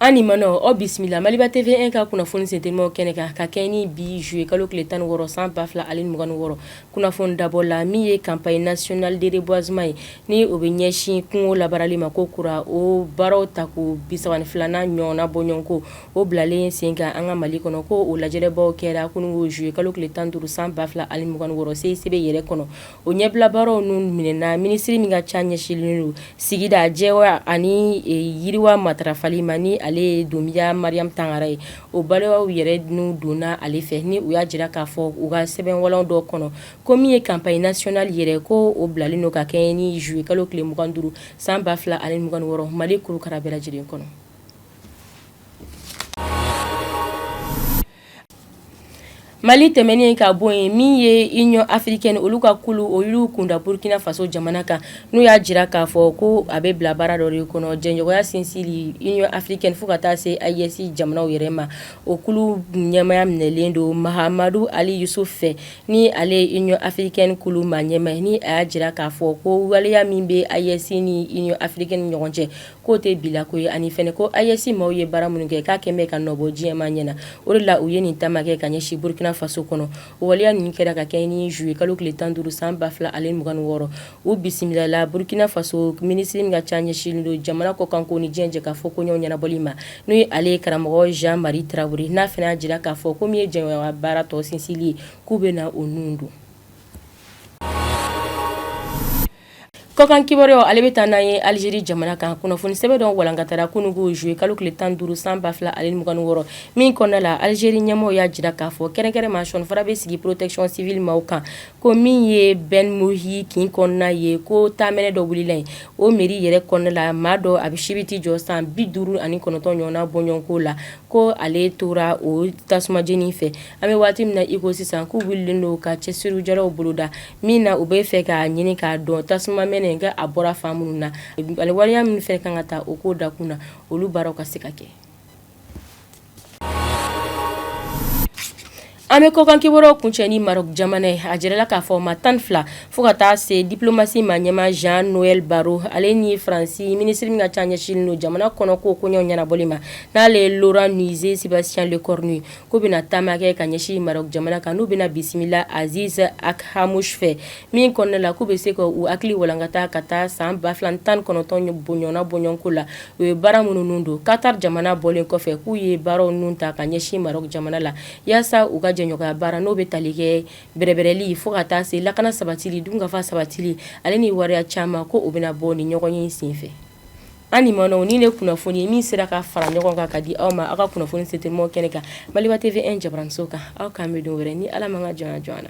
An ni manɔ aw bisimila Maliba TV1 ka kunnafoni sentelimaw kɛnɛ kan ka kɛɲɛ ni bi juillet kalo tile tan ni wɔɔrɔ san ba fila ani mugan ni wɔɔrɔ kunnafoni dabɔ la min ye campagne nationale de reboisement ye ni o bɛ ɲɛsin kungo labarali ma ko kura o baaraw tako bi saba ni filanan ɲɔgɔnna bɔɲɔgɔnko o bilalen sen kan an ka mali kɔnɔ ko o lajɛrɛbaw kɛra kunungo juillet kalo tile tan ni duuru san ba fila ani mugan ni wɔɔrɔ CICB yɛrɛ kɔnɔ o ɲɛbilabaaraw ninnu minɛɛna minisiriri min ka ca ɲɛsinlen don sigida jɛya ani yiriwa matarafali ma ni ale ye Doumbia Mariam Tangara ye o waleyaw yɛrɛ nun donna ale fɛ ni u y'a jira k'a fɔ u ka sɛbɛn walan dɔ kɔnɔ ko min ye campagne nationale yɛrɛ ko o bilalen don ka kɛɲɛ ni juillet kalo tile mugan ni duuru san ba fila ani mugan ni wɔɔrɔ mali kurukara bɛɛ lajɛlen kɔnɔ Mali tɛmɛnen ka bɔ yen min ye Union africaine olu ka kulu olu kunda burukina faso jamana kan n'u y'a jira k'a fɔ ko a bɛ bila baara dɔ de kɔnɔ jɛɲɔgɔnya sinsinli Union africaine fo ka taa se AES jamanaw yɛrɛ ma o kulu ɲɛmaya minɛlen don Mahamadou Ali Youssouf fɛ ni ale ye Union africaine kulu maa ɲɛmaa ye ni a y'a jira k'a fɔ ko waleya min bɛ AES ni Union africaine ni ɲɔgɔn cɛ k'o tɛ bila ko ye ani fana ko AES maaw ye baara minnu kɛ k'a kɛn bɛ ka nɔ bɔ diɲɛmaa ɲɛ na o de la u ye nin taama kɛ ka ɲɛsin Burkina Faso kɔnɔ o waleya ninnu kɛra ka kɛɲɛ ni juillet kalo tile tan ni duuru san ba fila ani mugan ni wɔɔrɔ u bisimilala Burkina Faso minisiri min ka ca ɲɛsinlen don jamana kɔkanko ni diɲɛ jɛkafɔ koɲɛw ɲɛnabɔli ma n'o ye ale ye karamɔgɔ Jean Marie Traoré n'a fana y'a jira k'a fɔ ko min ye jɛɲɔgɔnya baara tɔ sinsili ye k'u bɛna o nun don. Kɔkan kibaruya ale bɛ taa n'an ye Algérie jamana kan kunnafoni sɛbɛn dɔ walankatara kunungo juillet kalo tile tan ni duuru san ba fila ani mugan ni wɔɔrɔ min kɔnɔna la Algérie ɲɛmɔgɔw y'a jira k'a fɔ kɛrɛnkɛrɛnma sɔnfara bɛ sigi protection civile maaw kan ko min ye Ben Mohi kin kɔnɔna ye ko tamɛnɛ dɔ wulila yen o mairie yɛrɛ kɔnɔna la maa dɔ a bɛ si bɛ t'i jɔ san bi duuru ani kɔnɔntɔn ɲɔgɔnna bɔɲɔgɔnko la ko ale tora o tasuma jeni fɛ An bɛ waati min na iko sisan k'u wulilen don ka cɛsirijalaw boloda min na u bɛ fɛ k'a ɲini k'a dɔn tasuma mɛnɛ in k'a bɔra fan minnu na waleya min fɛ ka kan ka ta o ko dakun na olu baaraw ka se ka kɛ an bɛ kɔkan kibaruyaw kuncɛ ni Maroc jamana ye a jirala k'a fɔ maa tan ni fila fo ka taa se diplomatie maa ɲɛmaa Jean-Noël Barrot ale ni faransi minisiri min ka ca ɲɛsinlen don jamana kɔnɔ ko koɲɛw ɲɛnabɔli ma n'ale ye Laurent Nunez Sébastien Le k'u bɛna taama kɛ ka ɲɛsin Maroc jamana kan n'u bɛna bisimila Aziz Akhannouch fɛ min kɔnɔna la k'u bɛ se ka u hakili walankata ka taa san ba fila ni tan ni kɔnɔntɔn bɔnɲɔgɔnna bɔɲɔgɔnko la u ye baara minnu don Qatar jamana bɔlen kɔfɛ k'u ye baaraw ninnu ta ka ɲɛsin Maroc jamana la yaasa u ka jɛɲɔgɔnya baara n'o bɛ tali kɛ bɛrɛbɛrɛli fo ka taa se lakana sabatili dunkafa sabatili ale ni waleya caman ko u bɛna bɔ ni ɲɔgɔn ye senfɛ An ma nin de kunnafoni ye min sera ka fara ɲɔgɔn kan ka di aw ma aw ka kunnafoni sete mɔ kɛnɛ kan Maliba TV 1 jabaraninso kan aw k'an bɛn don wɛrɛ ni ala ma ka jɔn jɔn na